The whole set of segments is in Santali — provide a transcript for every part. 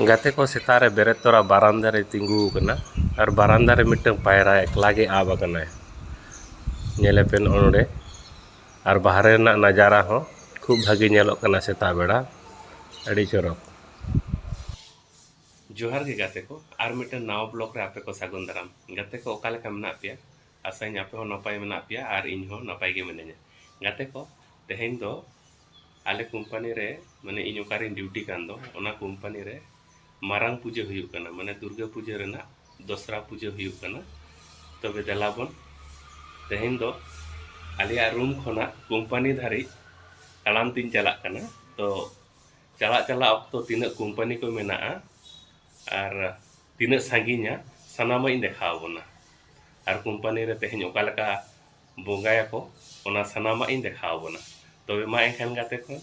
ᱜᱟᱛᱮ ᱠᱚ ᱥᱮᱛᱟᱜ ᱨᱮ ᱵᱮᱨᱮᱫ ᱛᱚᱨᱟ ᱵᱟᱨᱟᱱᱫᱟ ᱨᱮᱭ ᱛᱤᱸᱜᱩ ᱟᱠᱟᱱᱟ ᱟᱨ ᱵᱟᱨᱟᱱᱫᱟ ᱨᱮ ᱢᱤᱫᱴᱟᱹᱝ ᱯᱟᱭᱨᱟ ᱮᱠᱞᱟ ᱜᱮ ᱟᱵ ᱟᱠᱟᱱᱟᱭ ᱧᱮᱞᱮ ᱯᱮ ᱱᱚᱜᱼᱚ ᱱᱚᱸᱰᱮ ᱟᱨ ᱵᱟᱦᱨᱮ ᱨᱮᱱᱟᱜ ᱱᱟᱡᱟᱨᱟ ᱦᱚᱸ ᱠᱷᱩᱵᱽ ᱵᱷᱟᱹᱜᱤ ᱧᱮᱞᱚᱜ ᱠᱟᱱᱟ ᱥᱮᱛᱟᱜ ᱵᱮᱲᱟ ᱟᱹᱰᱤ ᱪᱚᱨᱚᱠ᱾ ᱡᱚᱦᱟᱨ ᱜᱮ ᱜᱟᱛᱮ ᱠᱚ ᱟᱨ ᱢᱤᱫᱴᱟᱹᱝ ᱱᱟᱣᱟ ᱵᱞᱚᱜᱽ ᱨᱮ ᱟᱯᱮ ᱠᱚ ᱥᱟᱹᱜᱩᱱ ᱫᱟᱨᱟᱢ᱾ ᱜᱟᱛᱮ ᱠᱚ ᱚᱠᱟ ᱞᱮᱠᱟ ᱢᱮᱱᱟᱜ ᱯᱮᱭᱟ? ᱟᱥᱟᱭᱟᱹᱧ ᱟᱯᱮ ᱦᱚᱸ ᱱᱟᱯᱟᱭ ᱢᱮᱱᱟᱜ ᱯᱮᱭᱟ ᱟᱨ ᱤᱧ ᱦᱚᱸ ᱱᱟᱯᱟᱭ ᱜᱮ ᱢᱤᱱᱟᱹᱧᱟ᱾ ᱜᱟᱛᱮ ᱠᱚ ᱛᱮᱦᱮᱧ ᱫᱚ ᱟᱞᱮ ᱠᱳᱢᱯᱟᱱᱤ ᱨᱮ ᱢᱟᱱᱮ ᱤᱧ ᱚᱠᱟᱨᱮᱧ ᱰᱤᱭᱩᱴᱤ ᱠᱟᱱ ᱫᱚ ᱚᱱᱟ ᱠᱳᱢᱯᱟᱱᱤ ᱨᱮ ᱢᱟᱨᱟᱝ ᱯᱩᱡᱟᱹ ᱦᱩᱭᱩᱜ ᱠᱟᱱᱟ ᱢᱟᱱᱮ ᱫᱩᱨᱜᱟᱹ ᱯᱩᱡᱟᱹ ᱨᱮᱱᱟᱜ ᱫᱚᱥᱨᱟ ᱯᱩᱡᱟᱹ ᱦᱩᱭᱩᱜ ᱠᱟᱱᱟ ᱛᱚᱵᱮ ᱫᱮᱞᱟ ᱵᱚᱱ ᱛᱮᱦᱮᱧ ᱫᱚ ᱟᱞᱮᱭᱟᱜ ᱨᱩᱢ ᱠᱷᱚᱱᱟᱜ ᱠᱳᱢᱯᱟᱱᱤ ᱫᱷᱟᱹᱨᱤᱡ ᱛᱟᱲᱟᱢ ᱛᱤᱧ ᱪᱟᱞᱟᱜ ᱠᱟᱱᱟ ᱛᱚ ᱪᱟᱞᱟᱜ ᱪᱟᱞᱟᱜ ᱚᱠᱛᱚ ᱛᱤᱱᱟᱹᱜ ᱠᱳᱢᱯᱟᱱᱤ ᱠᱚ ᱢᱮᱱᱟᱜᱼᱟ ᱟᱨ ᱛᱤᱱᱟᱹᱜ ᱥᱟᱺᱜᱤᱧᱟ ᱥᱟᱱᱟᱢᱟᱜ ᱤᱧ ᱫᱮᱠᱷᱟᱣ ᱟᱵᱚᱱᱟ ᱟᱨ ᱠᱳᱢᱯᱟᱱᱤ ᱨᱮ ᱛᱮᱦᱮᱧ ᱚᱠᱟ ᱞᱮᱠᱟ ᱵᱚᱸᱜᱟᱭᱟᱠᱚ ᱚᱱᱟ ᱥᱟᱱᱟᱢᱟᱜ ᱤᱧ ᱫᱮᱠᱷᱟᱣ ᱟᱵᱚᱱᱟ ᱛᱚᱵᱮ ᱢᱟ ᱮᱱᱠᱷᱟᱱ ᱜᱟᱛᱮ ᱠᱚ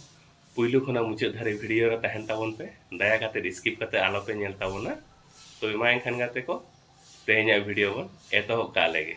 ᱯᱩᱭᱞᱩ ᱠᱷᱚᱱᱟᱜ ᱢᱩᱪᱟᱹᱫ ᱫᱷᱟᱹᱨᱤᱡ ᱵᱷᱤᱰᱤᱭᱳ ᱨᱮ ᱛᱟᱦᱮᱱ ᱛᱟᱵᱚᱱ ᱯᱮ ᱫᱟᱭᱟ ᱠᱟᱛᱮ ᱥᱠᱤᱯ ᱠᱟᱛᱮ ᱟᱞᱚ ᱯᱮ ᱧᱮᱞ ᱛᱟᱵᱚᱱᱟ ᱛᱚᱵᱮ ᱢᱟ ᱮᱱᱠᱷᱟᱱ ᱜᱟᱛᱮ ᱠᱚ ᱛᱮᱦᱮᱧᱟᱜ ᱵᱷᱤᱰᱤᱭᱳ ᱵᱚᱱ ᱮᱛᱚᱦᱚᱵ ᱠᱟᱜ ᱞᱮᱜᱮ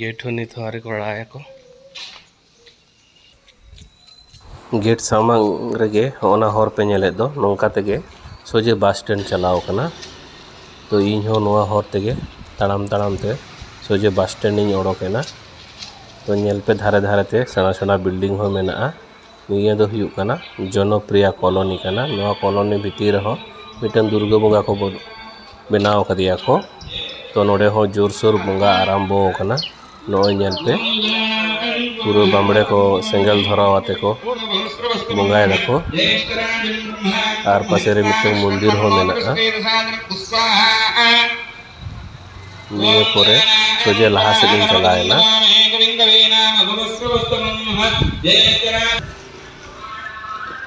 ᱜᱮᱴ ᱦᱚᱸ ᱱᱤᱛ ᱦᱚᱸ ᱟᱹᱣᱨᱤ ᱠᱚ ᱟᱲᱟᱜᱟᱠᱚ ᱜᱮᱴ ᱥᱟᱢᱟᱝ ᱨᱮᱜᱮ ᱦᱚᱸᱜᱼᱱᱟ ᱦᱚᱨ ᱯᱮ ᱧᱮᱞᱮᱫ ᱫᱚ ᱱᱚᱝᱠᱟ ᱛᱮᱜᱮ ᱥᱚᱡᱷᱮ ᱵᱟᱥ ᱥᱴᱮᱱᱰ ᱪᱟᱞᱟᱣ ᱠᱟᱱᱟ ᱛᱚ ᱤᱧ ᱦᱚᱸ ᱱᱚᱣᱟ ᱦᱚᱨ ᱛᱮᱜᱮ ᱛᱟᱲᱟᱢ ᱛᱟᱲᱟᱢ ᱛᱮ ᱥᱚᱡᱷᱮ ᱵᱟᱥ ᱥᱴᱮᱱᱰ ᱤᱧ ᱚᱰᱚᱠᱮᱱᱟ ᱛᱚ ᱧᱮᱞ ᱯᱮ ᱫᱷᱟᱨᱮ ᱫᱷᱟᱨᱮ ᱛᱮ ᱥᱮᱬᱟ ᱥᱮᱬᱟ ᱵᱤᱞᱰᱤᱝ ᱦᱚᱸ ᱢᱮᱱᱟᱜᱼᱟ ᱱᱤᱭᱟᱹ ᱫᱚ ᱦᱩᱭᱩᱜ ᱠᱟᱱᱟ ᱡᱚᱱᱚᱯᱨᱤᱭᱟ ᱠᱚᱞᱚᱱᱤ ᱠᱟᱱᱟ ᱱᱚᱣᱟ ᱠᱚᱞᱚᱱᱤ ᱵᱷᱤᱛᱤᱨ ᱨᱮᱦᱚᱸ ᱢᱤᱫᱴᱟᱝ ᱫᱩᱨᱜᱟᱹ ᱵᱚᱸᱜᱟ ᱠᱚ ᱵᱮᱱᱟᱣ ᱠᱟᱫᱮᱭᱟ ᱠᱚ ᱛᱚ ᱱᱚᱰᱮ ᱦᱚᱸ ᱡᱳᱨᱥᱳᱨ ᱵᱚᱸᱜᱟ ᱟᱨᱟᱢᱵᱚ ᱠᱟᱱᱟ ᱱᱚᱜᱼᱚᱭ ᱧᱮᱞ ᱯᱮ ᱯᱩᱨᱟᱹ ᱵᱟᱢᱲᱮ ᱠᱚ ᱥᱮᱸᱜᱮᱞ ᱫᱷᱚᱨᱟᱣ ᱟᱛᱮ ᱠᱚ ᱵᱚᱸᱜᱟᱭ ᱫᱟᱠᱚ ᱟᱨ ᱯᱟᱥᱮ ᱨᱮ ᱢᱤᱫᱴᱟᱝ ᱢᱚᱱᱫᱤᱨ ᱦᱚᱸ ᱢᱮᱱᱟᱜᱼᱟ ᱱᱤᱭᱟᱹ ᱯᱚᱨᱮ ᱥᱚᱡᱷᱮ ᱞᱟᱦᱟ ᱥᱮᱫ ᱤᱧ ᱪᱟᱞᱟᱣ ᱮᱱᱟ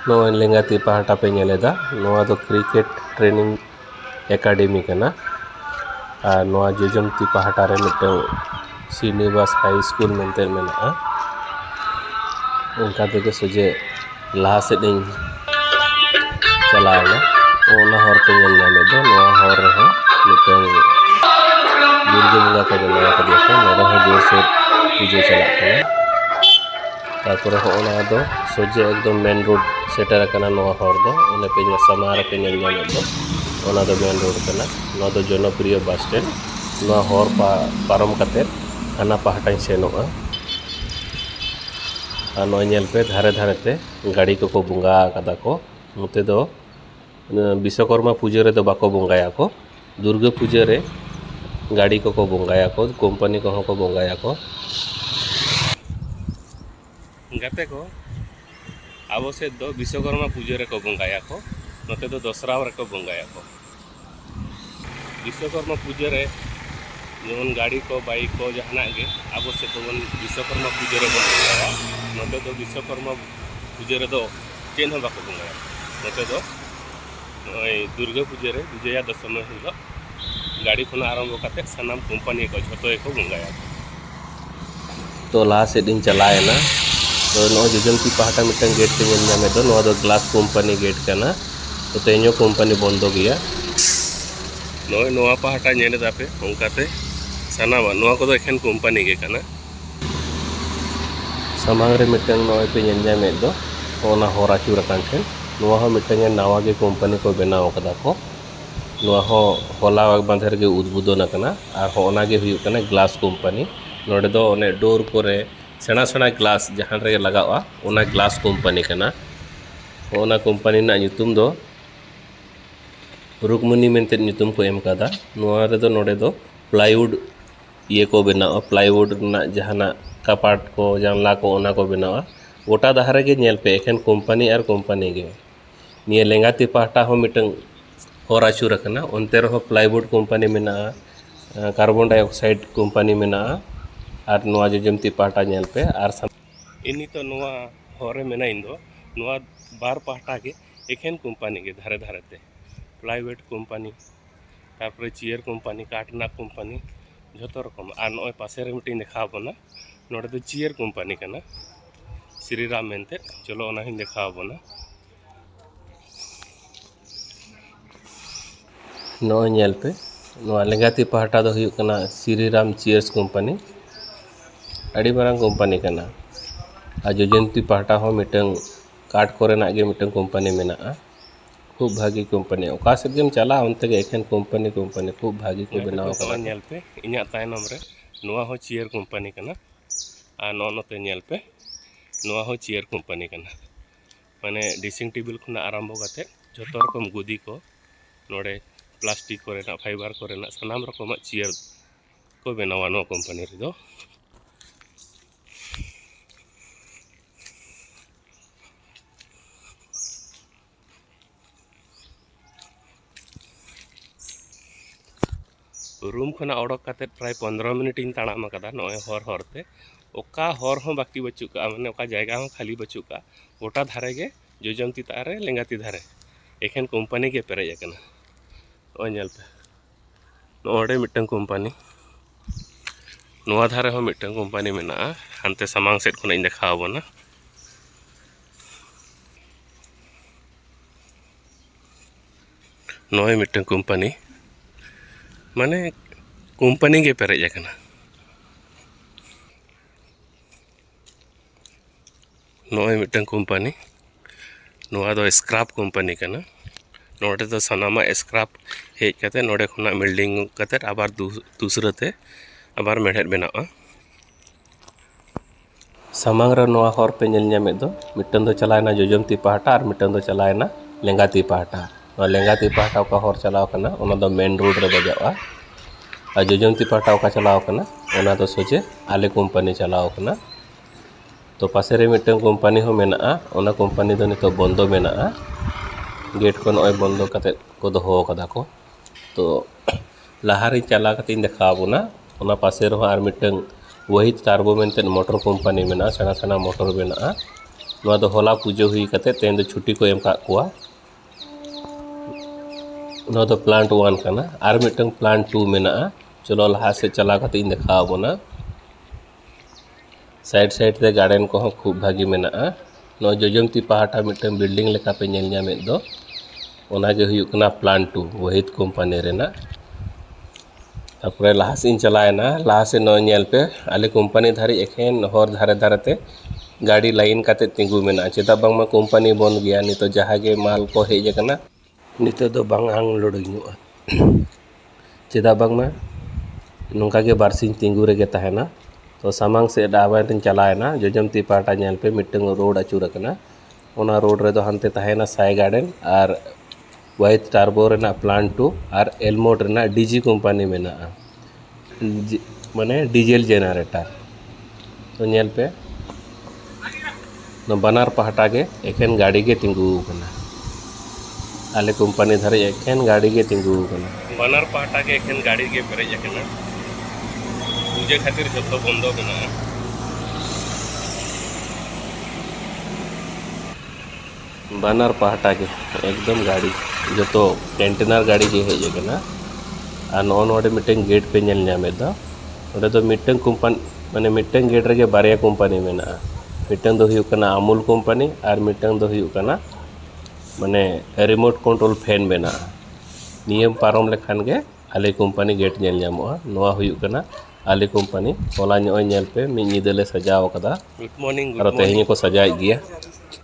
ᱱᱚᱜᱼᱚᱭ ᱞᱮᱸᱜᱟ ᱛᱤ ᱯᱟᱦᱴᱟ ᱯᱮ ᱧᱮᱞᱮᱫᱟ ᱱᱚᱣᱟ ᱫᱚ ᱠᱨᱤᱠᱮᱴ ᱴᱨᱮᱱᱤᱝ ᱮᱠᱟᱰᱮᱢᱤ ᱠᱟᱱᱟ ᱟᱨ ᱱᱚᱣᱟ ᱡᱚᱡᱚᱢ ᱛᱤ ᱯᱟᱦᱴᱟ ᱨᱮ ᱢᱤᱫᱴᱟᱹᱝ ᱥᱨᱤᱱᱤᱵᱟᱥ ᱦᱟᱭ ᱥᱠᱩᱞ ᱢᱮᱱᱛᱮ ᱢᱮᱱᱟᱜᱼᱟ ᱚᱱᱠᱟ ᱛᱮᱜᱮ ᱥᱚᱡᱷᱮ ᱞᱟᱦᱟ ᱥᱮᱫ ᱤᱧ ᱪᱟᱞᱟᱣᱮᱱᱟ ᱚᱱᱟ ᱦᱚᱨ ᱛᱮ ᱧᱮᱞ ᱧᱟᱢᱮᱫ ᱫᱚ ᱱᱚᱣᱟ ᱦᱚᱨ ᱨᱮᱦᱚᱸ ᱢᱤᱫᱴᱟᱹᱝ ᱫᱩᱨᱜᱟᱹ ᱵᱚᱸᱜᱟ ᱠᱚ ᱵᱮᱱᱟᱣ ᱟᱠᱟᱫᱮᱭᱟ ᱠᱚ ᱱᱚᱰᱮ ᱦᱚᱸ ᱡᱳᱨ ᱥᱳᱨ ᱯᱩᱡᱟᱹ ᱪᱟᱞᱟᱜ ᱠᱟᱱᱟ ᱛᱟᱨᱯᱚᱨᱮ ᱦᱚᱸᱜᱼᱚ ᱱᱟ ᱫᱚ ᱥᱚᱡᱷᱮ ᱮᱠᱫᱚᱢ ᱢᱮᱱ ᱨᱳᱰ ᱥᱮᱴᱮᱨ ᱟᱠᱟᱱᱟ ᱱᱚᱣᱟ ᱦᱚᱨ ᱫᱚ ᱚᱱᱮ ᱯᱮ ᱧᱮᱞ ᱥᱟᱢᱟᱝ ᱨᱮᱯᱮ ᱧᱮᱞ ᱧᱟᱢᱮᱫ ᱫᱚ ᱚᱱᱟ ᱫᱚ ᱢᱮᱱ ᱨᱳᱰ ᱠᱟᱱᱟ ᱱᱚᱣᱟ ᱫᱚ ᱡᱚᱱᱚᱯᱨᱤᱭᱚ ᱵᱟᱥ ᱥᱴᱮᱱᱰ ᱱᱚᱣᱟ ᱦᱚᱨ ᱯᱟᱨᱚᱢ ᱠᱟᱛᱮᱫ ᱦᱟᱱᱟ ᱯᱟᱦᱴᱟᱧ ᱥᱮᱱᱚᱜᱼᱟ ᱟᱨ ᱱᱚᱜᱼᱚᱭ ᱧᱮᱞ ᱯᱮ ᱫᱷᱟᱨᱮ ᱫᱷᱟᱨᱮ ᱛᱮ ᱜᱟᱹᱲᱤ ᱠᱚᱠᱚ ᱵᱚᱸᱜᱟ ᱠᱟᱫᱟ ᱠᱚ ᱱᱚᱛᱮ ᱫᱚ ᱵᱤᱥᱥᱚᱠᱚᱨᱢᱟ ᱯᱩᱡᱟᱹ ᱨᱮᱫᱚ ᱵᱟᱠᱚ ᱵᱚᱸᱜᱟᱭᱟ ᱠᱚ ᱫᱩᱨᱜᱟᱹ ᱯᱩᱡᱟᱹ ᱨᱮ ᱜᱟᱹᱲᱤ ᱠᱚᱠᱚ ᱵᱚᱸᱜᱟᱭᱟ ᱠᱚ ᱠᱳᱢᱯᱟᱱᱤ ᱠᱚᱦᱚᱸ ᱠᱚ ᱵᱚᱸᱜᱟᱭᱟ ᱠᱚ ᱜᱟᱛᱮ ᱠᱚ ᱟᱵᱚ ᱥᱮᱫ ᱫᱚ ᱵᱤᱥᱥᱚᱠᱚᱨᱢᱟ ᱯᱩᱡᱟᱹ ᱨᱮᱠᱚ ᱵᱚᱸᱜᱟᱭᱟᱠᱚ ᱱᱚᱛᱮ ᱫᱚ ᱫᱚᱥᱨᱟ ᱨᱮᱠᱚ ᱵᱚᱸᱜᱟᱭᱟᱠᱚ ᱵᱤᱥᱥᱚᱠᱚᱨᱢᱟ ᱯᱩᱡᱟᱹ ᱨᱮ ᱡᱮᱢᱚᱱ ᱜᱟᱹᱰᱤ ᱠᱚ ᱵᱟᱭᱤᱠ ᱠᱚ ᱡᱟᱦᱟᱱᱟᱜ ᱜᱮ ᱟᱵᱚ ᱥᱮᱫ ᱫᱚᱵᱚᱱ ᱵᱤᱥᱥᱚᱠᱚᱨᱢᱟ ᱯᱩᱡᱟᱹ ᱨᱮᱵᱚᱱ ᱵᱚᱸᱜᱟᱭᱟ ᱱᱚᱛᱮ ᱫᱚ ᱵᱤᱥᱥᱚᱠᱚᱨᱢᱟ ᱯᱩᱡᱟᱹ ᱨᱮᱫᱚ ᱪᱮᱫ ᱦᱚᱸ ᱵᱟᱠᱚ ᱵᱚᱸᱜᱟᱭᱟ ᱱᱚᱛᱮ ᱫᱚ ᱱᱚᱜᱼᱚᱭ ᱫᱩᱨᱜᱟᱹ ᱯᱩᱡᱟᱹ ᱨᱮ ᱵᱤᱡᱚᱭᱟ ᱫᱚᱥᱚᱢᱤ ᱦᱤᱞᱳᱜ ᱜᱟᱹᱰᱤ ᱠᱷᱚᱱᱟᱜ ᱟᱨᱟᱢᱵᱷᱚ ᱠᱟᱛᱮ ᱥᱟᱱᱟᱢ ᱠᱳᱢᱯᱟᱱᱤ ᱠᱚ ᱡᱷᱚᱛᱚ ᱜᱮᱠᱚ ᱵᱚᱸᱜᱟᱭᱟ ᱛᱚ ᱞᱟᱦᱟ ᱥᱮᱫ ᱤᱧ ᱪᱟᱞᱟᱣᱮᱱᱟ ᱛᱚ ᱱᱚᱜᱼᱚᱭ ᱡᱚᱡᱚᱢᱛᱤ ᱯᱟᱦᱴᱟ ᱢᱤᱫᱴᱟᱝ ᱜᱮᱴ ᱯᱮ ᱧᱮᱞ ᱧᱟᱢᱮᱫ ᱫᱚ ᱱᱚᱣᱟ ᱫᱚ ᱜᱞᱟᱥ ᱠᱳᱢᱯᱟᱱᱤ ᱜᱮᱴ ᱠᱟᱱᱟ ᱛᱚ ᱛᱮᱦᱮᱧ ᱦᱚᱸ ᱠᱳᱢᱯᱟᱱᱤ ᱵᱚᱱᱫᱚ ᱜᱮᱭᱟ ᱱᱚᱜᱼᱚᱭ ᱱᱚᱣᱟ ᱯᱟᱦᱴᱟ ᱧᱮᱞ ᱮᱫᱟᱯᱮ ᱚᱱᱠᱟᱛᱮ ᱥᱟᱱᱟᱢᱟᱜ ᱱᱚᱣᱟ ᱠᱚᱫᱚ ᱮᱠᱷᱮᱱ ᱠᱳᱢᱯᱟᱱᱤ ᱜᱮ ᱠᱟᱱᱟ ᱥᱟᱢᱟᱝ ᱨᱮ ᱢᱤᱫᱴᱟᱝ ᱱᱚᱜᱼᱚᱭ ᱯᱮ ᱧᱮᱞ ᱧᱟᱢᱮᱫ ᱫᱚ ᱚᱱᱟ ᱦᱚᱨ ᱟᱹᱪᱩᱨ ᱟᱠᱟᱱ ᱴᱷᱮᱱ ᱱᱚᱣᱟ ᱦᱚᱸ ᱢᱤᱫᱴᱟᱝ ᱱᱟᱣᱟ ᱜᱮ ᱠᱳᱢᱯᱟᱱᱤ ᱠᱚ ᱵᱮᱱᱟᱣ ᱟᱠᱟᱫᱟ ᱠᱚ ᱱᱚᱣᱟ ᱦᱚᱸ ᱦᱚᱞᱟ ᱢᱟᱫᱷᱮᱨ ᱜᱮ ᱩᱫᱽᱵᱳᱫᱚᱱ ᱟᱠᱟᱱᱟ ᱟᱨ ᱦᱚᱸ ᱚᱱᱟ ᱜᱮ ᱦᱩᱭᱩᱜ ᱠᱟᱱᱟ ᱜᱞᱟᱥ ᱠᱳᱢᱯᱟᱱᱤ ᱱᱚᱰᱮ ᱫᱚ ᱚᱱᱮ ᱰᱳᱨ ᱠᱚᱨᱮ ᱥᱮᱬᱟ ᱥᱮᱬᱟ ᱜᱞᱟᱥ ᱡᱟᱦᱟᱸ ᱨᱮᱜᱮ ᱞᱟᱜᱟᱜᱼᱟ ᱚᱱᱟ ᱜᱞᱟᱥ ᱠᱳᱢᱯᱟᱱᱤ ᱠᱟᱱᱟ ᱚᱱᱟ ᱠᱳᱢᱯᱟᱱᱤ ᱨᱮᱱᱟᱜ ᱧᱩᱛᱩᱢ ᱫᱚ ᱨᱩᱠᱢᱚᱱᱤ ᱢᱮᱱᱛᱮ ᱧᱩᱛᱩᱢ ᱠᱚ ᱮᱢ ᱟᱠᱟᱫᱟ ᱱᱚᱣᱟ ᱨᱮᱫᱚ ᱱᱚᱰᱮ ᱫᱚ ᱯᱞᱟᱭᱩᱰ ᱤᱭᱟᱹ ᱠᱚ ᱵᱮᱱᱟᱣᱟ ᱯᱞᱟᱭᱣᱩᱰ ᱨᱮᱱᱟᱜ ᱡᱟᱦᱟᱱᱟᱜ ᱠᱟᱯᱟᱴ ᱠᱚ ᱡᱟᱱᱞᱟ ᱠᱚ ᱚᱱᱟ ᱠᱚ ᱵᱮᱱᱟᱣᱟ ᱜᱚᱴᱟ ᱫᱷᱟᱨᱮ ᱜᱮ ᱧᱮᱞ ᱯᱮ ᱮᱠᱷᱮᱱ ᱠᱳᱢᱯᱟᱱᱤ ᱟᱨ ᱠᱳᱢᱯᱟᱱᱤ ᱜᱮ ᱱᱤᱭᱟᱹ ᱞᱮᱸᱜᱟ ᱛᱤ ᱯᱟᱦᱴᱟ ᱦᱚᱸ ᱢᱤᱫᱴᱟᱹᱝ ᱦᱚᱨ ᱟᱹᱪᱩᱨ ᱟᱠᱟᱱᱟ ᱚᱱᱛᱮ ᱨᱮᱦᱚᱸ ᱯᱞᱟᱭᱣᱩᱰ ᱠᱳᱢᱯᱟᱱᱤ ᱢᱮᱱᱟᱜᱼᱟ ᱠᱟᱨᱵᱚᱱ ᱰᱟᱭ ᱚᱠᱥᱟᱭᱤᱰ ᱠᱳᱢᱯᱟᱱᱤ ᱢᱮᱱᱟᱜᱼᱟ ᱟᱨ ᱱᱚᱣᱟ ᱡᱚᱡᱚᱢ ᱛᱤ ᱯᱟᱦᱴᱟ ᱧᱮᱞ ᱯᱮ ᱟᱨ ᱤᱧ ᱱᱤᱛᱚᱜ ᱱᱚᱣᱟ ᱦᱚᱨ ᱨᱮ ᱢᱮᱱᱟᱹᱧ ᱤᱧ ᱫᱚ ᱱᱚᱣᱟ ᱵᱟᱨ ᱯᱟᱦᱴᱟ ᱜᱮ ᱮᱠᱷᱮᱱ ᱠᱳᱢᱯᱟᱱᱤ ᱜᱮ ᱫᱷᱟᱨᱮ ᱫᱷᱟᱨᱮ ᱛᱮ ᱯᱞᱟᱭᱣᱩᱰ ᱠᱳᱢᱯᱟᱱᱤ ᱛᱟᱨᱯᱚᱨᱮ ᱪᱮᱭᱟᱨ ᱠᱳᱢᱯᱟᱱᱤ ᱠᱟᱴ ᱨᱮᱱᱟᱜ ᱠᱳᱢᱯᱟᱱᱤ ᱡᱷᱚᱛᱚ ᱨᱚᱠᱚᱢ ᱟᱨ ᱱᱚᱜᱼᱚᱭ ᱯᱟᱥᱮ ᱨᱮ ᱢᱤᱫᱴᱮᱱ ᱤᱧ ᱫᱮᱠᱷᱟᱣ ᱟᱵᱚᱱᱟ ᱱᱚᱰᱮ ᱫᱚ ᱪᱮᱭᱟᱨ ᱠᱳᱢᱯᱟᱱᱤ ᱠᱟᱱᱟ ᱥᱨᱤᱨᱟᱢ ᱢᱮᱱᱛᱮ ᱪᱚᱞᱚ ᱚᱱᱟ ᱦᱚᱸᱧ ᱫᱮᱠᱷᱟᱣ ᱟᱵᱚᱱᱟ ᱱᱚᱜᱼᱚᱭ ᱧᱮᱞ ᱯᱮ ᱱᱚᱣᱟ ᱞᱮᱸᱜᱟᱛᱤ ᱯᱟᱦᱴᱟ ᱫᱚ ᱦᱩᱭᱩᱜ ᱠᱟᱱᱟ ᱥᱨᱤᱨᱟᱢ ᱪᱮᱭᱟᱨᱥ ᱠᱳᱢᱯᱟᱱᱤ ᱟᱹᱰᱤ ᱢᱟᱨᱟᱝ ᱠᱳᱢᱯᱟᱱᱤ ᱠᱟᱱᱟ ᱟᱨ ᱡᱚᱡᱚᱱᱛᱤ ᱯᱟᱦᱴᱟ ᱦᱚᱸ ᱢᱤᱫᱴᱟᱝ ᱠᱟᱴ ᱠᱚᱨᱮᱱᱟᱜ ᱜᱮ ᱢᱤᱫᱴᱟᱝ ᱠᱳᱢᱯᱟᱱᱤ ᱢᱮᱱᱟᱜᱼᱟ ᱠᱷᱩᱵ ᱵᱷᱟᱹᱜᱤ ᱠᱳᱢᱯᱟᱱᱤ ᱚᱠᱟ ᱥᱮᱫ ᱜᱮᱢ ᱪᱟᱞᱟᱜᱼᱟ ᱚᱱᱛᱮ ᱜᱮ ᱮᱠᱷᱮᱱ ᱠᱳᱢᱯᱟᱱᱤ ᱠᱳᱢᱯᱟᱱᱤ ᱠᱷᱩᱵ ᱵᱷᱟᱹᱜᱤ ᱠᱚ ᱵᱮᱱᱟᱣ ᱟᱠᱟᱫᱟ ᱧᱮᱞ ᱯᱮ ᱤᱧᱟᱹᱜ ᱛᱟᱭᱱᱚᱢ ᱨᱮ ᱱᱚᱣᱟ ᱦᱚᱸ ᱪᱮᱭᱟᱨ ᱠᱳᱢᱯᱟᱱᱤ ᱠᱟᱱᱟ ᱟᱨ ᱱᱚᱜᱼᱚ ᱱᱚᱛᱮ ᱧᱮᱞ ᱯᱮ ᱱᱚᱣᱟ ᱦᱚᱸ ᱪᱮᱭᱟᱨ ᱠᱳᱢᱯᱟᱱᱤ ᱠᱟᱱᱟ ᱢᱟᱱᱮ ᱰᱨᱮᱥᱤᱝ ᱴᱮᱵᱤᱞ ᱠᱷᱚᱱᱟᱜ ᱟᱨᱟᱢᱵᱷᱚ ᱠᱟᱛᱮᱫ ᱡᱚᱛᱚ ᱨᱚᱠᱚᱢ ᱜᱚᱫᱤ ᱠᱚ ᱱᱚᱰᱮ ᱯᱞᱟᱥᱴᱤᱠ ᱠᱚᱨᱮᱱᱟᱜ ᱯᱷᱟᱭᱵᱟᱨ ᱠᱚᱨᱮᱱᱟᱜ ᱥᱟᱱᱟᱢ ᱨᱚᱠᱚᱢᱟᱜ ᱪᱮᱭᱟᱨ ᱠᱚ ᱵᱮᱱᱟᱣᱟ ᱱᱚᱣᱟ ᱠᱳᱢᱯᱟᱱᱤ ᱨᱮᱫᱚ ᱨᱩᱢ ᱠᱷᱚᱱᱟᱜ ᱚᱰᱚᱠ ᱠᱟᱛᱮᱫ ᱯᱨᱟᱭ ᱯᱚᱱᱫᱨᱚ ᱢᱤᱱᱤᱴ ᱤᱧ ᱛᱟᱲᱟᱢ ᱟᱠᱟᱫᱟ ᱱᱚᱜᱼᱚᱭ ᱦᱚᱨ ᱦᱚᱨ ᱛᱮ ᱚᱠᱟ ᱦᱚᱨ ᱦᱚᱸ ᱵᱟᱹᱠᱤ ᱵᱟᱹᱪᱩᱜ ᱠᱟᱜᱼᱟ ᱢᱟᱱᱮ ᱚᱠᱟ ᱡᱟᱭᱜᱟ ᱦᱚᱸ ᱠᱷᱟᱹᱞᱤ ᱵᱟᱹᱪᱩᱜ ᱠᱟᱜᱼᱟ ᱜᱚᱴᱟ ᱫᱷᱟᱨᱮ ᱜᱮ ᱡᱚᱡᱚᱢ ᱛᱤ ᱛᱟᱠ ᱨᱮ ᱞᱮᱸᱜᱟ ᱛᱤ ᱫᱷᱟᱨᱮ ᱮᱠᱷᱮᱱ ᱠᱳᱢᱯᱟᱱᱤ ᱜᱮ ᱯᱮᱨᱮᱡ ᱟᱠᱟᱱᱟ ᱱᱚᱜᱼᱚᱭ ᱧᱮᱞ ᱯᱮ ᱱᱚᱰᱮ ᱢᱤᱫᱴᱟᱝ ᱠᱳᱢᱯᱟᱱᱤ ᱱᱚᱣᱟ ᱫᱷᱟᱨᱮ ᱦᱚᱸ ᱢᱤᱫᱴᱟᱝ ᱠᱳᱢᱯᱟᱱᱤ ᱢᱮᱱᱟᱜᱼᱟ ᱦᱟᱱᱛᱮ ᱥᱟᱢᱟᱝ ᱥᱮᱫ ᱠᱷᱚᱱᱟᱜ ᱤᱧ ᱫᱮᱠᱷᱟᱣ ᱟᱵᱚᱱᱟ ᱱᱚᱜᱼᱚᱭ ᱢᱤᱫᱴᱟᱝ ᱠᱳᱢᱯᱟᱱᱤ ᱢᱟᱱᱮ ᱠᱳᱢᱯᱟᱱᱤ ᱜᱮ ᱯᱮᱨᱮᱡ ᱟᱠᱟᱱᱟ ᱱᱚᱜᱼᱚᱭ ᱢᱤᱫᱴᱟᱝ ᱠᱳᱢᱯᱟᱱᱤ ᱱᱚᱣᱟ ᱫᱚ ᱥᱠᱨᱟᱯ ᱠᱳᱢᱯᱟᱱᱤ ᱠᱟᱱᱟ ᱱᱚᱰᱮ ᱫᱚ ᱥᱟᱱᱟᱢᱟᱜ ᱥᱠᱨᱟᱯ ᱦᱮᱡ ᱠᱟᱛᱮ ᱱᱚᱰᱮ ᱠᱷᱚᱱᱟᱜ ᱢᱮᱞᱰᱤᱝ ᱠᱟᱛᱮ ᱟᱵᱟᱨ ᱫᱩᱥᱨᱟᱹ ᱛᱮ ᱟᱵᱟᱨ ᱢᱮᱬᱦᱮᱫ ᱵᱮᱱᱟᱜᱼᱟ ᱥᱟᱢᱟᱝ ᱨᱮ ᱱᱚᱣᱟ ᱦᱚᱨ ᱯᱮ ᱧᱮᱞ ᱧᱟᱢᱮᱫ ᱫᱚ ᱢᱤᱫᱴᱟᱝ ᱫᱚ ᱪᱟᱞᱟᱣᱮᱱᱟ ᱡᱚᱡᱚᱢ ᱛᱤ ᱯᱟᱦᱴᱟ ᱟᱨ ᱢᱤᱫᱴᱟᱝ ᱫᱚ ᱪᱟᱞᱟᱣᱮᱱᱟ ᱞᱮᱸᱜᱟ ᱛᱤ ᱯᱟᱦᱴᱟ ᱱᱚᱣᱟ ᱞᱮᱸᱜᱟ ᱛᱤ ᱯᱟᱦᱴᱟ ᱚᱠᱟ ᱦᱚᱨ ᱪᱟᱞᱟᱣ ᱠᱟᱱᱟ ᱚᱱᱟ ᱫᱚ ᱢᱮᱱ ᱨᱳᱰ ᱨᱮ ᱵᱟᱡᱟᱜᱼᱟ ᱟᱨ ᱡᱚᱡᱚᱢ ᱛᱤ ᱯᱟᱦᱴᱟ ᱚᱠᱟ ᱪᱟᱞᱟᱣ ᱠᱟᱱᱟ ᱚᱱᱟ ᱫᱚ ᱥᱚᱡᱷᱮ ᱟᱞᱮ ᱠᱳᱢᱯᱟᱱᱤ ᱪᱟᱞᱟᱣ ᱠᱟᱱᱟ ᱛᱚ ᱯᱟᱥᱮᱨᱮ ᱢᱤᱫᱴᱟᱝ ᱠᱳᱢᱯᱟᱱᱤ ᱦᱚᱸ ᱢᱮᱱᱟᱜᱼᱟ ᱚᱱᱟ ᱠᱳᱢᱯᱟᱱᱤ ᱫᱚ ᱱᱤᱛᱚᱜ ᱵᱚᱱᱫᱚ ᱢᱮᱱᱟᱜᱼᱟ ᱜᱮᱴ ᱠᱚ ᱱᱚᱜᱼᱚᱭ ᱵᱚᱱᱫᱚ ᱠᱟᱛᱮᱫ ᱠᱚ ᱫᱚᱦᱚ ᱠᱟᱫᱟ ᱠᱚ ᱛᱚ ᱞᱟᱦᱟᱨᱮᱧ ᱪᱟᱞᱟᱣ ᱠᱟᱛᱮᱧ ᱫᱮᱠᱷᱟᱣ ᱵᱚᱱᱟ ᱚᱱᱟ ᱯᱟᱥᱮ ᱨᱮᱦᱚᱸ ᱟᱨ ᱢᱤᱫᱴᱟᱝ ᱳᱭᱮᱴ ᱴᱟᱨᱵᱳ ᱢᱮᱱᱛᱮ ᱢᱚᱴᱚᱨ ᱠᱳᱢᱯᱟᱱᱤ ᱢᱮᱱᱟᱜᱼᱟ ᱥᱮᱬᱟ ᱥᱮᱬᱟ ᱢᱚᱴᱚᱨ ᱢᱮᱱᱟᱜᱼᱟ ᱱᱚᱣᱟ ᱫᱚ ᱦᱚᱞᱟ ᱯᱩᱡᱟᱹ ᱦᱩᱭ ᱠᱟᱛᱮᱫ ᱛᱮᱦᱮᱧ ᱫᱚ ᱪᱷᱩᱴᱤ ᱠᱚ ᱮᱢ ᱠᱟᱜ ᱠᱚᱣᱟ ᱱᱚᱣᱟ ᱫᱚ ᱯᱞᱟᱱᱴ ᱚᱣᱟᱱ ᱠᱟᱱᱟ ᱟᱨ ᱢᱤᱫᱴᱟᱝ ᱯᱞᱟᱱᱴ ᱴᱩ ᱢᱮᱱᱟᱜᱼᱟ ᱪᱚᱞᱚ ᱞᱟᱦᱟ ᱥᱮᱫ ᱪᱟᱞᱟᱣ ᱠᱟᱛᱮᱫ ᱤᱧ ᱫᱮᱠᱷᱟᱣ ᱵᱚᱱᱟ ᱥᱟᱭᱤᱰ ᱥᱟᱭᱤᱰ ᱛᱮ ᱜᱟᱨᱰᱮᱱ ᱠᱚᱦᱚᱸ ᱠᱷᱩᱵ ᱵᱷᱟᱜᱮ ᱢᱮᱱᱟᱜᱼᱟ ᱱᱚᱣᱟ ᱡᱚᱡᱚᱢ ᱛᱤ ᱯᱟᱦᱴᱟ ᱢᱤᱫᱴᱟᱝ ᱵᱤᱞᱰᱤᱝ ᱞᱮᱠᱟ ᱯᱮ ᱧᱮᱞ ᱧᱟᱢᱮᱫ ᱫᱚ ᱚᱱᱟ ᱜᱮ ᱦᱩᱭᱩᱜ ᱠᱟᱱᱟ ᱯᱞᱟᱱ ᱴᱩ ᱳᱦᱤᱛ ᱠᱳᱢᱯᱟᱱᱤ ᱨᱮᱱᱟᱜ ᱛᱟᱯᱚᱨᱮ ᱞᱟᱦᱟ ᱥᱮᱫ ᱤᱧ ᱪᱟᱞᱟᱣᱮᱱᱟ ᱞᱟᱦᱟ ᱥᱮᱫ ᱱᱚᱜᱼᱚᱭ ᱧᱮᱞ ᱯᱮ ᱟᱞᱮ ᱠᱳᱢᱯᱟᱱᱤ ᱫᱷᱟᱹᱨᱤᱡ ᱮᱠᱷᱮᱱ ᱦᱚᱨ ᱫᱷᱟᱨᱮ ᱫᱷᱟᱨᱮ ᱛᱮ ᱜᱟᱹᱰᱤ ᱞᱟᱭᱤᱱ ᱠᱟᱛᱮ ᱛᱤᱸᱜᱩ ᱢᱮᱱᱟᱜᱼᱟ ᱪᱮᱫᱟᱜ ᱵᱟᱝᱢᱟ ᱠᱳᱢᱯᱟᱱᱤ ᱵᱚᱱᱫᱽ ᱜᱮᱭᱟ ᱱᱤᱛᱚᱜ ᱡᱟᱦᱟᱸ ᱜᱮ ᱢᱟᱞ ᱠᱚ ᱦᱮᱡ ᱟᱠᱟᱱᱟ ᱱᱤᱛᱚᱜ ᱫᱚ ᱵᱟᱝ ᱟᱝᱞᱚᱲᱚᱧᱚᱜᱼᱟ ᱪᱮᱫᱟᱜ ᱵᱟᱝᱢᱟ ᱱᱚᱝᱠᱟᱜᱮ ᱵᱟᱨᱥᱤᱧ ᱛᱤᱸᱜᱩ ᱨᱮᱜᱮ ᱛᱟᱦᱮᱱᱟ ᱛᱚ ᱥᱟᱢᱟᱝ ᱥᱮᱫ ᱟᱵᱟᱨ ᱞᱤᱧ ᱪᱟᱞᱟᱣᱮᱱᱟ ᱡᱚᱡᱚᱢ ᱛᱤ ᱯᱟᱦᱴᱟ ᱧᱮᱞ ᱯᱮ ᱢᱤᱫᱴᱟᱝ ᱨᱳᱰ ᱟᱹᱪᱩᱨ ᱟᱠᱟᱱᱟ ᱚᱱᱟ ᱨᱳᱰ ᱨᱮᱫᱚ ᱦᱟᱱᱛᱮ ᱛᱟᱦᱮᱱᱟ ᱥᱟᱭ ᱜᱟᱨᱰᱮᱱ ᱟᱨ ᱚᱣᱟᱭᱤᱛ ᱴᱟᱨᱵᱳ ᱨᱮᱱᱟᱜ ᱯᱞᱟᱱᱴᱩ ᱟᱨ ᱮᱞᱢᱳᱰ ᱨᱮᱱᱟᱜ ᱰᱤᱡᱤ ᱠᱳᱢᱯᱟᱱᱤ ᱢᱮᱱᱟᱜᱼᱟ ᱢᱟᱱᱮ ᱰᱤᱡᱮᱞ ᱡᱮᱱᱟᱨᱮᱴᱟᱨ ᱛᱚ ᱧᱮᱞ ᱯᱮ ᱱᱚᱣᱟ ᱵᱟᱱᱟᱨ ᱯᱟᱦᱴᱟ ᱜᱮ ᱮᱠᱮᱱ ᱜᱟᱹᱰᱤ ᱜᱮ ᱛᱤᱸᱜᱩ ᱟᱠᱟᱱᱟ ᱟᱞᱮ ᱠᱳᱢᱯᱟᱱᱤ ᱫᱷᱟᱹᱨᱤᱡ ᱮᱠᱮᱱ ᱜᱟᱹᱰᱤ ᱜᱮ ᱛᱤᱸᱜᱩ ᱟᱠᱟᱱᱟ ᱵᱟᱱᱟᱨ ᱯᱟᱦᱴᱟ ᱜᱮ ᱮᱠᱮᱱ ᱜᱟᱹᱰᱤ ᱜᱮ ᱯᱮᱨᱮᱡ ᱟᱠᱟᱱᱟ ᱯᱩᱡᱟᱹ ᱠᱷᱟᱹᱛᱤᱨ ᱡᱚᱛᱚ ᱵᱚᱱᱫᱚ ᱢᱮᱱᱟᱜᱼᱟ ᱵᱟᱱᱟᱨ ᱯᱟᱦᱴᱟ ᱜᱮ ᱮᱠᱫᱚᱢ ᱜᱟᱹᱰᱤ ᱡᱚᱛᱚ ᱠᱮᱱᱴᱮᱱᱟᱨ ᱜᱟᱹᱰᱤ ᱜᱮ ᱦᱮᱡ ᱟᱠᱟᱱᱟ ᱟᱨ ᱱᱚᱜᱼᱚ ᱱᱚᱰᱮ ᱢᱤᱫᱴᱮᱱ ᱜᱮᱴ ᱯᱮ ᱧᱮᱞ ᱧᱟᱢᱮᱫ ᱫᱚ ᱱᱚᱰᱮ ᱫᱚ ᱢᱤᱫᱴᱟᱝ ᱠᱳᱢᱯᱟᱱᱤ ᱢᱟᱱᱮ ᱢᱤᱫᱴᱟᱱ ᱜᱮᱴ ᱨᱮᱜᱮ ᱵᱟᱨᱭᱟ ᱠᱳᱢᱯᱟᱱᱤ ᱢᱮᱱᱟᱜᱼᱟ ᱢᱤᱫᱴᱟᱝ ᱫᱚ ᱦᱩᱭᱩᱜ ᱠᱟᱱᱟ ᱟᱢᱩᱞ ᱠᱳᱢᱯᱟᱱᱤ ᱟᱨ ᱢᱤᱫᱴᱟᱝ ᱫᱚ ᱦᱩᱭᱩᱜ ᱠᱟᱱᱟ ᱢᱟᱱᱮ ᱨᱤᱢᱳᱴ ᱠᱚᱱᱴᱨᱳᱞ ᱯᱷᱮᱱ ᱢᱮᱱᱟᱜᱼᱟ ᱱᱤᱭᱟᱹᱢ ᱯᱟᱨᱚᱢ ᱞᱮᱠᱷᱟᱱ ᱜᱮ ᱟᱞᱮ ᱠᱳᱢᱯᱟᱱᱤ ᱜᱮᱴ ᱧᱮᱞ ᱧᱟᱢᱚᱜᱼᱟ ᱱᱚᱣᱟ ᱦᱩᱭᱩᱜ ᱠᱟᱱᱟ ᱟᱞᱮ ᱠᱳᱢᱯᱟᱱᱤ ᱦᱚᱞᱟ ᱧᱚᱜᱼᱮ ᱧᱮᱞ ᱯᱮ ᱢᱤᱫ ᱧᱤᱫᱟᱹ ᱞᱮ ᱥᱟᱡᱟᱣ ᱠᱟᱫᱟ ᱟᱨᱚ ᱛᱮᱦᱮᱧ ᱦᱚᱸᱠᱚ ᱥᱟᱡᱟᱣᱮᱫ ᱜᱮᱭᱟ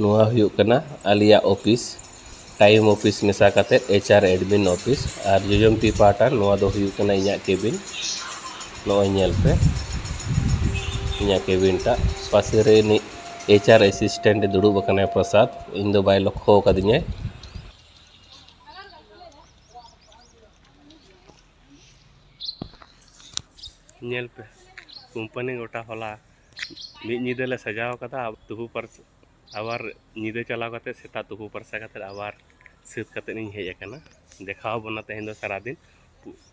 ᱱᱚᱣᱟ ᱦᱩᱭᱩᱜ ᱠᱟᱱᱟ ᱟᱞᱮᱭᱟᱜ ᱚᱯᱷᱤᱥ ᱴᱟᱭᱤᱢ ᱚᱯᱷᱤᱥ ᱢᱮᱥᱟ ᱠᱟᱛᱮᱫ ᱮᱭᱤᱪ ᱟᱨ ᱮᱰᱢᱤᱱ ᱚᱯᱷᱤᱥ ᱟᱨ ᱡᱚᱡᱚᱢ ᱛᱤ ᱯᱟᱦᱴᱟ ᱱᱚᱣᱟ ᱫᱚ ᱦᱩᱭᱩᱜ ᱠᱟᱱᱟ ᱤᱧᱟᱹᱜ ᱠᱮᱵᱤᱱ ᱱᱚᱜᱼᱚᱭ ᱧᱮᱞ ᱯᱮ ᱤᱧᱟᱹᱜ ᱠᱮᱵᱤᱱ ᱴᱟᱜ ᱯᱟᱥᱮ ᱨᱮ ᱤᱱᱤᱡ ᱮᱭᱤᱪ ᱟᱨ ᱮᱥᱤᱥᱴᱮᱱᱴ ᱫᱩᱲᱩᱵ ᱟᱠᱟᱱᱟᱭ ᱯᱨᱚᱥᱟᱫᱽ ᱤᱧ ᱫᱚ ᱵᱟᱭ ᱞᱚᱠᱠᱷᱚ ᱟᱠᱟᱫᱤᱧᱟᱭ ᱧᱮᱞ ᱯᱮ ᱠᱳᱢᱯᱟᱱᱤ ᱜᱚᱴᱟ ᱦᱚᱞᱟ ᱢᱤᱫ ᱧᱤᱫᱟᱹ ᱞᱮ ᱥᱟᱡᱟᱣ ᱠᱟᱫᱟ ᱛᱩᱯᱩ ᱯᱷᱟᱨᱪᱟ ᱟᱵᱟᱨ ᱧᱤᱫᱟᱹ ᱪᱟᱞᱟᱣ ᱠᱟᱛᱮ ᱥᱮᱛᱟᱜ ᱛᱩᱯᱩ ᱯᱷᱟᱨᱪᱟ ᱠᱟᱛᱮ ᱟᱵᱟᱨ ᱥᱟᱹᱛ ᱠᱟᱛᱮ ᱤᱧ ᱦᱮᱡ ᱟᱠᱟᱱᱟ ᱫᱮᱠᱷᱟᱣ ᱵᱚᱱᱟ ᱛᱮᱦᱮᱧ ᱫᱚ ᱥᱟᱨᱟ ᱫᱤᱱ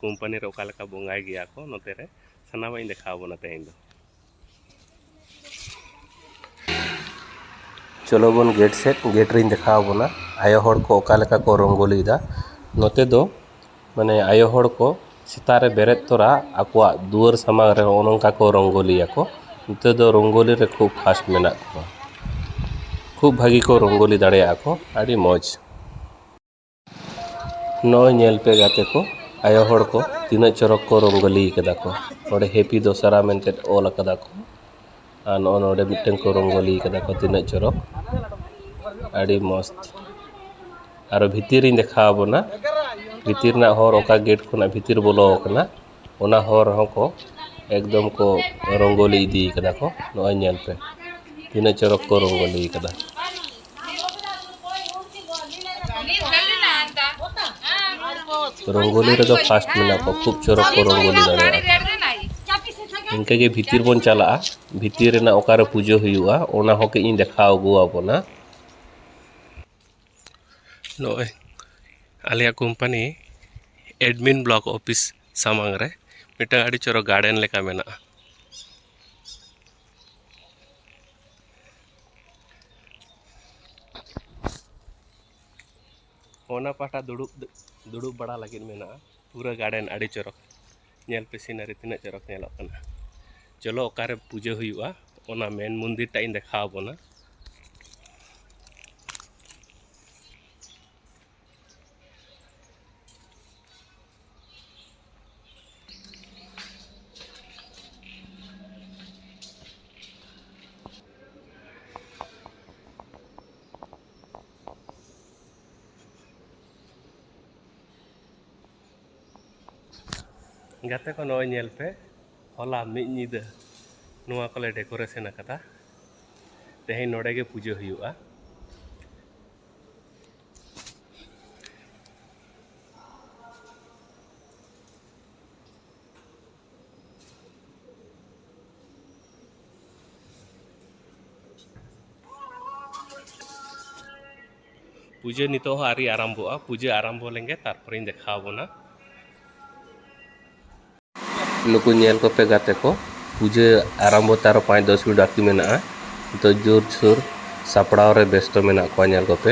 ᱠᱳᱢᱯᱟᱱᱤ ᱨᱮ ᱚᱠᱟ ᱞᱮᱠᱟ ᱵᱚᱸᱜᱟᱭ ᱜᱮᱭᱟ ᱠᱚ ᱱᱚᱛᱮ ᱨᱮ ᱥᱟᱱᱟᱢᱟᱜ ᱤᱧ ᱫᱮᱠᱷᱟᱣ ᱵᱚᱱᱟ ᱛᱮᱦᱮᱧ ᱫᱚ ᱪᱚᱞᱚ ᱵᱚᱱ ᱜᱮᱴ ᱥᱮᱫ ᱜᱮᱴ ᱨᱤᱧ ᱫᱮᱠᱷᱟᱣ ᱵᱚᱱᱟ ᱟᱭᱳ ᱦᱚᱲ ᱠᱚ ᱚᱠᱟ ᱞᱮᱠᱟ ᱠᱚ ᱨᱚᱝᱜᱳᱞᱤᱭᱫᱟ ᱱᱚᱛᱮ ᱫᱚ ᱢᱟᱱᱮ ᱟᱭᱳ ᱦᱚᱲ ᱠᱚ ᱥᱮᱛᱟᱜ ᱨᱮ ᱵᱮᱨᱮᱫ ᱛᱚᱨᱟ ᱟᱠᱚᱣᱟᱜ ᱫᱩᱣᱟᱹᱨ ᱥᱟᱢᱟᱝ ᱨᱮ ᱦᱚᱸᱜᱼᱚ ᱱᱚᱝᱠᱟ ᱠᱚ ᱨᱚᱝᱜᱳᱞᱤᱭᱟᱠᱚ ᱱᱚᱛᱮ ᱫᱚ ᱨᱚᱝᱜᱳᱞᱤ ᱨᱮ ᱠᱷᱩᱵ ᱯᱷᱟᱥᱴ ᱢᱮᱱᱟᱜ ᱠᱚᱣᱟ ᱠᱷᱩᱵ ᱵᱷᱟᱹᱜᱤ ᱠᱚ ᱨᱚᱝᱜᱳᱞᱤ ᱫᱟᱲᱮᱭᱟᱜᱼᱟ ᱠᱚ ᱟᱹᱰᱤ ᱢᱚᱡᱽ ᱱᱚᱜᱼᱚᱭ ᱧᱮᱞ ᱯᱮ ᱜᱟᱛᱮ ᱠᱚ ᱟᱭᱳ ᱦᱚᱲ ᱠᱚ ᱛᱤᱱᱟᱹᱜ ᱪᱚᱨᱚᱠ ᱠᱚ ᱨᱚᱝᱜᱚᱞᱤ ᱠᱟᱫᱟ ᱠᱚ ᱚᱸᱰᱮ ᱦᱮᱯᱤ ᱫᱚᱥᱚᱨᱟ ᱢᱮᱱᱛᱮ ᱚᱞ ᱠᱟᱫᱟ ᱠᱚ ᱟᱨ ᱱᱚᱜᱼᱚᱭ ᱱᱚᱰᱮ ᱢᱤᱫᱴᱟᱹᱝ ᱠᱚ ᱨᱚᱝᱜᱚᱞᱤ ᱠᱟᱫᱟ ᱠᱚ ᱛᱤᱱᱟᱹᱜ ᱪᱚᱨᱚᱠ ᱟᱹᱰᱤ ᱢᱚᱡᱽ ᱟᱨᱚ ᱵᱷᱤᱛᱤᱨᱤᱧ ᱫᱮᱠᱷᱟᱣ ᱵᱚᱱᱟ ᱵᱷᱤᱛᱤᱨ ᱨᱮᱱᱟᱜ ᱦᱚᱨ ᱚᱠᱟ ᱜᱮᱴ ᱠᱷᱚᱱᱟᱜ ᱵᱷᱤᱛᱤᱨ ᱵᱚᱞᱚᱣ ᱠᱟᱱᱟ ᱚᱱᱟ ᱦᱚᱨ ᱨᱮᱦᱚᱸ ᱠᱚ ᱮᱠᱫᱚᱢ ᱠᱚ ᱨᱚᱝᱜᱚᱞᱤ ᱤᱫᱤ ᱠᱟᱫᱟ ᱠᱚ ᱱᱚᱜᱼᱚᱭ ᱧᱮᱞ ᱯᱮ ᱛᱤᱱᱟᱹᱜ ᱪᱚᱨᱚᱠ ᱠᱚ ᱨᱚᱝᱜᱚᱞᱤ ᱠᱟᱫᱟ ᱨᱚᱝᱜᱚᱞᱤ ᱨᱮᱫᱚ ᱯᱷᱟᱥᱴ ᱢᱮᱱᱟᱜ ᱠᱚ ᱠᱷᱩᱵ ᱪᱚᱨᱚᱠ ᱠᱚ ᱨᱚᱝᱜᱚᱞᱤ ᱫᱟᱲᱮᱭᱟᱜᱼᱟ ᱤᱱᱠᱟᱹᱜᱮ ᱵᱷᱤᱛᱤᱨ ᱵᱚᱱ ᱪᱟᱞᱟᱜᱼᱟ ᱵᱷᱤᱛᱤᱨ ᱨᱮᱱᱟᱜ ᱚᱠᱟᱨᱮ ᱯᱩᱡᱟᱹ ᱦᱩᱭᱩᱜᱼᱟ ᱚᱱᱟ ᱦᱚᱸ ᱠᱟᱹᱡ ᱤᱧ ᱫᱮᱠᱷᱟᱣ ᱟᱹᱜᱩ ᱟᱵᱚᱱᱟ ᱱᱚᱜᱼᱚᱸᱭ ᱟᱞᱮᱭᱟᱜ ᱠᱳᱢᱯᱟᱱᱤ ᱮᱰᱢᱤᱱ ᱵᱞᱚᱠ ᱚᱯᱷᱤᱥ ᱥᱟᱢᱟᱝ ᱨᱮ ᱢᱤᱫᱴᱟᱝ ᱟᱹᱰᱤ ᱪᱚᱨᱚᱠ ᱜᱟᱨᱰᱮᱱ ᱞᱮᱠᱟ ᱢᱮᱱᱟᱜᱼᱟ ᱚᱱᱟ ᱯᱟᱦᱴᱟ ᱫᱩᱲᱩᱵ ᱫᱩᱲᱩᱵ ᱵᱟᱲᱟ ᱞᱟᱹᱜᱤᱫ ᱢᱮᱱᱟᱜᱼᱟ ᱯᱩᱨᱟᱹ ᱜᱟᱨᱰᱮᱱ ᱟᱹᱰᱤ ᱪᱚᱨᱚᱠ ᱧᱮᱞ ᱯᱮ ᱥᱤᱱᱟᱨᱤ ᱛᱤᱱᱟᱹᱜ ᱪᱚᱨᱚᱠ ᱧᱮᱞᱚᱜ ᱠᱟᱱᱟ ᱪᱚᱞᱚ ᱚᱠᱟᱨᱮ ᱯᱩᱡᱟᱹ ᱦᱩᱭᱩᱜᱼᱟ ᱚᱱᱟ ᱢᱮᱱ ᱢᱚᱱᱫᱤᱨ ᱴᱟᱜ ᱤᱧ ᱫᱮᱠᱷᱟᱣ ᱵᱚᱱᱟ ᱜᱟᱛᱮ ᱠᱚ ᱱᱚᱜᱼᱚᱭ ᱧᱮᱞ ᱯᱮ ᱦᱚᱞᱟ ᱢᱤᱫ ᱧᱤᱫᱟᱹ ᱱᱚᱣᱟ ᱠᱚᱞᱮ ᱰᱮᱠᱳᱨᱮᱥᱚᱱ ᱟᱠᱟᱫᱟ ᱛᱮᱦᱮᱧ ᱱᱚᱰᱮ ᱜᱮ ᱯᱩᱡᱟᱹ ᱦᱩᱭᱩᱜᱼᱟ ᱯᱩᱡᱟᱹ ᱱᱤᱛᱚᱜ ᱦᱚᱸ ᱟᱹᱣᱨᱤ ᱟᱨᱟᱢᱵᱷᱚᱜᱼᱟ ᱯᱩᱡᱟᱹ ᱟᱨᱟᱢᱵᱷᱚ ᱞᱮᱱᱜᱮ ᱛᱟᱨᱯᱚᱨᱮᱧ ᱫᱮᱠᱷᱟᱣ ᱵᱚᱱᱟ ᱱᱩᱠᱩ ᱧᱮᱞ ᱠᱚᱯᱮ ᱜᱟᱛᱮ ᱠᱚ ᱯᱩᱡᱟᱹ ᱟᱨᱟᱢᱵᱷᱚ ᱛᱮ ᱟᱨᱚ ᱯᱟᱸᱪ ᱫᱚᱥ ᱢᱤᱱᱤᱴ ᱵᱟᱹᱠᱤ ᱢᱮᱱᱟᱜᱼᱟ ᱱᱤᱛᱚᱜ ᱡᱳᱨ ᱥᱳᱨ ᱥᱟᱯᱲᱟᱣ ᱨᱮ ᱵᱮᱥᱛᱚ ᱢᱮᱱᱟᱜ ᱠᱚᱣᱟ ᱧᱮᱞ ᱠᱚᱯᱮ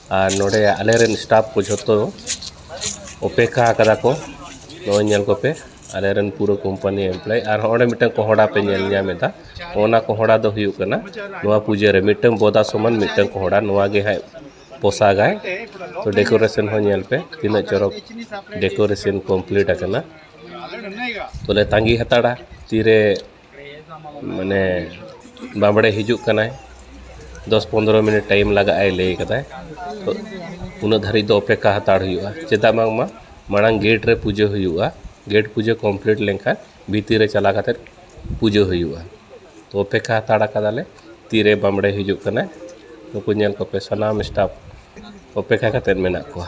ᱟᱨ ᱱᱚᱰᱮ ᱟᱞᱮ ᱨᱮᱱ ᱥᱴᱟᱯᱷ ᱠᱚ ᱡᱷᱚᱛᱚ ᱚᱯᱮᱠᱠᱷᱟ ᱟᱠᱟᱫᱟ ᱠᱚ ᱱᱚᱜᱼᱚᱭ ᱧᱮᱞ ᱠᱚᱯᱮ ᱟᱞᱮ ᱨᱮᱱ ᱯᱩᱨᱟᱹ ᱠᱳᱢᱯᱟᱱᱤ ᱮᱢᱯᱞᱚᱭ ᱟᱨ ᱦᱚᱸᱜᱼᱚ ᱱᱚᱰᱮ ᱢᱤᱫᱴᱟᱝ ᱠᱚᱦᱚᱲᱟ ᱯᱮ ᱧᱮᱞ ᱧᱟᱢᱮᱫᱟ ᱚᱱᱟ ᱠᱚᱦᱚᱲᱟ ᱫᱚ ᱦᱩᱭᱩᱜ ᱠᱟᱱᱟ ᱱᱚᱣᱟ ᱯᱩᱡᱟᱹ ᱨᱮ ᱢᱤᱫᱴᱟᱝ ᱵᱚᱫᱟ ᱥᱚᱢᱟᱱ ᱢᱤᱫᱴᱟᱝ ᱠᱚᱦᱚᱲᱟ ᱱᱚᱣᱟ ᱜᱮ ᱦᱟᱸᱜ ᱯᱚᱥᱟᱜᱟᱭ ᱛᱚ ᱰᱮᱠᱳᱨᱮᱥᱚᱱ ᱦᱚᱸ ᱧᱮᱞ ᱯᱮ ᱛᱤᱱᱟᱹᱜ ᱪᱚᱨᱚᱠ ᱰᱮᱠᱳᱨᱮᱥᱚᱱ ᱠᱚᱢᱯᱞᱤᱴ ᱟᱠᱟᱱᱟ ᱛᱚᱞᱮ ᱛᱟᱺᱜᱤ ᱦᱟᱛᱟᱲᱟ ᱛᱤᱨᱮ ᱢᱟᱱᱮ ᱵᱟᱢᱲᱮ ᱦᱤᱡᱩᱜ ᱠᱟᱱᱟᱭ ᱫᱚᱥ ᱯᱚᱱᱫᱨᱚ ᱢᱤᱱᱤᱴ ᱴᱟᱭᱤᱢ ᱞᱟᱜᱟᱜ ᱟᱭ ᱞᱟᱹᱭ ᱠᱟᱫᱟᱭ ᱛᱚ ᱩᱱᱟᱹᱜ ᱫᱷᱟᱹᱨᱤᱡ ᱫᱚ ᱚᱯᱮᱠᱠᱷᱟ ᱦᱟᱛᱟᱲ ᱦᱩᱭᱩᱜᱼᱟ ᱪᱮᱫᱟᱜ ᱵᱟᱝᱢᱟ ᱢᱟᱲᱟᱝ ᱜᱮᱴ ᱨᱮ ᱯᱩᱡᱟᱹ ᱦᱩᱭᱩᱜᱼᱟ ᱜᱮᱴ ᱯᱩᱡᱟᱹ ᱠᱚᱢᱯᱞᱤᱴ ᱞᱮᱱᱠᱷᱟᱱ ᱵᱷᱤᱛᱤᱨ ᱨᱮ ᱪᱟᱞᱟᱣ ᱠᱟᱛᱮᱫ ᱯᱩᱡᱟᱹ ᱦᱩᱭᱩᱜᱼᱟ ᱛᱚ ᱚᱯᱮᱠᱠᱷᱟ ᱦᱟᱛᱟᱲ ᱠᱟᱫᱟᱞᱮ ᱛᱤᱨᱮ ᱵᱟᱢᱲᱮ ᱦᱤᱡᱩᱜ ᱠᱟᱱᱟᱭ ᱱᱩᱠᱩ ᱧᱮᱞ ᱠᱚᱯᱮ ᱥᱟᱱᱟᱢ ᱥᱴᱟᱯ ᱚᱯᱮᱠᱠᱷᱟ ᱠᱟᱛᱮᱫ ᱢᱮᱱᱟᱜ ᱠᱚᱣᱟ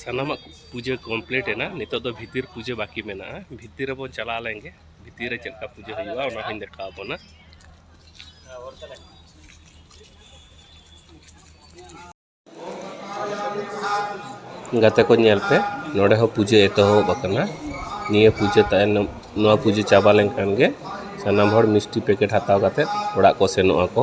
ᱥᱟᱱᱟᱢᱟᱜ ᱯᱩᱡᱟᱹ ᱠᱚᱢᱯᱞᱤᱴ ᱮᱱᱟ ᱱᱤᱛᱚᱜ ᱫᱚ ᱵᱷᱤᱛᱤᱨ ᱯᱩᱡᱟᱹ ᱵᱟᱹᱠᱤ ᱢᱮᱱᱟᱜᱼᱟ ᱵᱷᱤᱛᱤᱨ ᱨᱮᱵᱚᱱ ᱪᱟᱞᱟᱣ ᱞᱮᱱᱜᱮ ᱵᱷᱤᱛᱤᱨ ᱨᱮ ᱪᱮᱫ ᱞᱮᱠᱟ ᱯᱩᱡᱟᱹ ᱦᱩᱭᱩᱜᱼᱟ ᱚᱱᱟ ᱦᱚᱧ ᱫᱮᱠᱷᱟᱣ ᱵᱚᱱᱟ ᱜᱟᱛᱮ ᱠᱚ ᱧᱮᱞ ᱯᱮ ᱱᱚᱰᱮ ᱦᱚᱸ ᱯᱩᱡᱟᱹ ᱮᱛᱚᱦᱚᱵ ᱟᱠᱟᱱᱟ ᱱᱤᱭᱟᱹ ᱯᱩᱡᱟᱹ ᱛᱟᱭᱱᱚᱢ ᱱᱚᱣᱟ ᱯᱩᱡᱟᱹ ᱪᱟᱵᱟ ᱞᱮᱱᱠᱷᱟᱱ ᱜᱮ ᱥᱟᱱᱟᱢ ᱦᱚᱲ ᱢᱤᱥᱴᱤ ᱯᱮᱠᱮᱴ ᱦᱟᱛᱟᱣ ᱠᱟᱛᱮ ᱚᱲᱟᱜ ᱠᱚ ᱥᱮᱱᱚᱜ ᱟᱠᱚ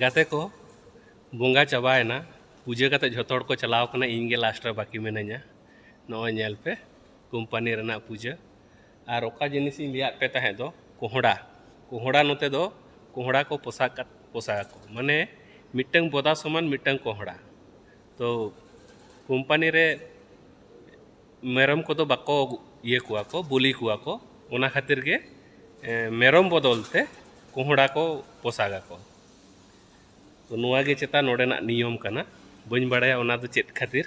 ᱜᱟᱛᱮ ᱠᱚ ᱵᱚᱸᱜᱟ ᱪᱟᱵᱟᱭᱮᱱᱟ ᱯᱩᱡᱟᱹ ᱠᱟᱛᱮ ᱡᱷᱚᱛᱚ ᱦᱚᱲ ᱠᱚ ᱪᱟᱞᱟᱣ ᱠᱟᱱᱟ ᱤᱧ ᱜᱮ ᱞᱟᱥᱴ ᱨᱮ ᱵᱟᱹᱠᱤ ᱢᱤᱱᱟᱹᱧᱟ ᱱᱚᱜᱼᱚᱭ ᱧᱮᱞ ᱯᱮ ᱠᱳᱢᱯᱟᱱᱤ ᱨᱮᱱᱟᱜ ᱯᱩᱡᱟᱹ ᱟᱨ ᱚᱠᱟ ᱡᱤᱱᱤᱥ ᱤᱧ ᱞᱟᱹᱭᱟᱫ ᱯᱮ ᱛᱟᱦᱮᱸᱫ ᱫᱚ ᱠᱚᱦᱚᱸᱰᱟ ᱠᱚᱦᱚᱸᱰᱟ ᱱᱚᱛᱮ ᱫᱚ ᱠᱚᱦᱚᱸᱰᱟ ᱠᱚ ᱯᱚᱥᱟᱜ ᱠᱟᱜ ᱯᱚᱥᱟᱜ ᱟᱠᱚ ᱢᱟᱱᱮ ᱢᱤᱫᱴᱟᱹᱝ ᱵᱚᱫᱟ ᱥᱚᱢᱟᱱ ᱢᱤᱫᱴᱟᱹᱝ ᱠᱚᱦᱚᱸᱰᱟ ᱛᱚ ᱠᱳᱢᱯᱟᱱᱤ ᱨᱮ ᱢᱮᱨᱚᱢ ᱠᱚᱫᱚ ᱵᱟᱠᱚ ᱤᱭᱟᱹ ᱠᱚᱣᱟ ᱠᱚ ᱵᱚᱞᱤ ᱠᱚᱣᱟ ᱠᱚ ᱚᱱᱟ ᱠᱷᱟᱹᱛᱤᱨ ᱜᱮ ᱢᱮᱨᱚᱢ ᱵᱚᱫᱚᱞ ᱛᱮ ᱠᱚᱦᱚᱸᱰᱟ ᱠᱚ ᱯᱚᱥᱟᱜ ᱟᱠᱚ ᱛᱚ ᱱᱚᱣᱟ ᱜᱮ ᱪᱮᱛᱟ ᱱᱚᱰᱮᱱᱟᱜ ᱱᱤᱭᱚᱢ ᱠᱟᱱᱟ ᱵᱟᱹᱧ ᱵᱟᱲᱟᱭᱟ ᱚᱱᱟ ᱫᱚ ᱪᱮᱫ ᱠᱷᱟᱹᱛᱤᱨ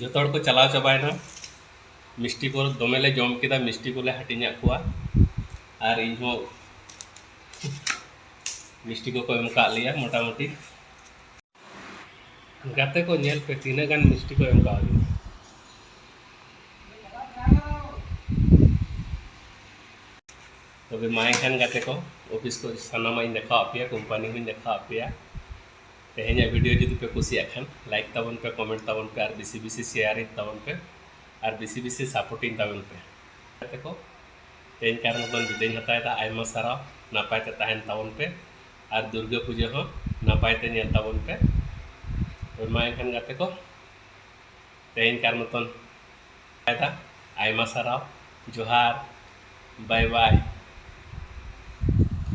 ᱡᱚᱛᱚ ᱦᱚᱲ ᱠᱚ ᱪᱟᱞᱟᱣ ᱪᱟᱵᱟᱭᱮᱱᱟ ᱢᱤᱥᱴᱤ ᱠᱚ ᱫᱚᱢᱮ ᱞᱮ ᱡᱚᱢ ᱠᱮᱫᱟ ᱢᱤᱥᱴᱤ ᱠᱚᱞᱮ ᱦᱟᱹᱴᱤᱧᱟᱫ ᱠᱚᱣᱟ ᱟᱨ ᱤᱧ ᱦᱚᱸ ᱢᱤᱥᱴᱤ ᱠᱚᱠᱚ ᱮᱢ ᱠᱟᱜ ᱞᱮᱭᱟ ᱢᱚᱴᱟᱢᱩᱴᱤ ᱜᱟᱛᱮ ᱠᱚ ᱧᱮᱞ ᱯᱮ ᱛᱤᱱᱟᱹᱜ ᱜᱟᱱ ᱢᱤᱥᱴᱤ ᱠᱚ ᱮᱢ ᱠᱟᱜ ᱞᱮᱭᱟ ᱛᱚᱵᱮ ᱢᱟ ᱮᱱᱠᱷᱟᱱ ᱜᱟᱛᱮ ᱠᱚ ᱚᱯᱷᱤᱥ ᱠᱚ ᱥᱟᱱᱟᱢᱟᱜ ᱤᱧ ᱫᱮᱠᱷᱟᱣᱟᱫ ᱯᱮᱭᱟ ᱠᱳᱢᱯᱟᱱᱤ ᱦᱚᱸᱧ ᱫᱮᱠᱷᱟᱣᱟᱫ ᱯᱮᱭᱟ ᱛᱮᱦᱮᱧᱟᱜ ᱵᱷᱤᱰᱤᱭᱳ ᱡᱩᱫᱤ ᱯᱮ ᱠᱩᱥᱤᱭᱟᱜ ᱠᱷᱟᱱ ᱞᱟᱭᱤᱠ ᱛᱟᱵᱚᱱ ᱯᱮ ᱠᱚᱢᱮᱱᱴ ᱛᱟᱵᱚᱱ ᱯᱮ ᱟᱨ ᱵᱮᱥᱤ ᱵᱮᱥᱤ ᱥᱮᱭᱟᱨᱤᱧ ᱛᱟᱵᱚᱱ ᱯᱮ ᱟᱨ ᱵᱮᱥᱤ ᱵᱮᱥᱤ ᱥᱟᱯᱳᱨᱴᱤᱧ ᱛᱟᱵᱚᱱ ᱯᱮ ᱜᱟᱛᱮ ᱠᱚ ᱛᱮᱦᱮᱧ ᱠᱟᱨ ᱢᱚᱛᱚᱱ ᱵᱤᱫᱟᱹᱧ ᱦᱟᱛᱟᱣᱮᱫᱟ ᱟᱭᱢᱟ ᱥᱟᱨᱦᱟᱣ ᱱᱟᱯᱟᱭ ᱛᱮ ᱛᱟᱦᱮᱱ ᱛᱟᱵᱚᱱ ᱯᱮ ᱟᱨ ᱫᱩᱨᱜᱟᱹ ᱯᱩᱡᱟᱹ ᱦᱚᱸ ᱱᱟᱯᱟᱭ ᱛᱮ ᱧᱮᱞ ᱛᱟᱵᱚᱱ ᱯᱮ ᱢᱟ ᱮᱱᱠᱷᱟᱱ ᱜᱟᱛᱮ ᱠᱚ ᱛᱮᱦᱮᱧ ᱠᱟᱨ ᱢᱚᱛᱚᱱ ᱮᱫᱟ ᱟᱭᱢᱟ ᱥᱟᱨᱦᱟᱣ ᱡᱚᱦᱟᱨ ᱵᱟᱭ ᱵᱟᱭ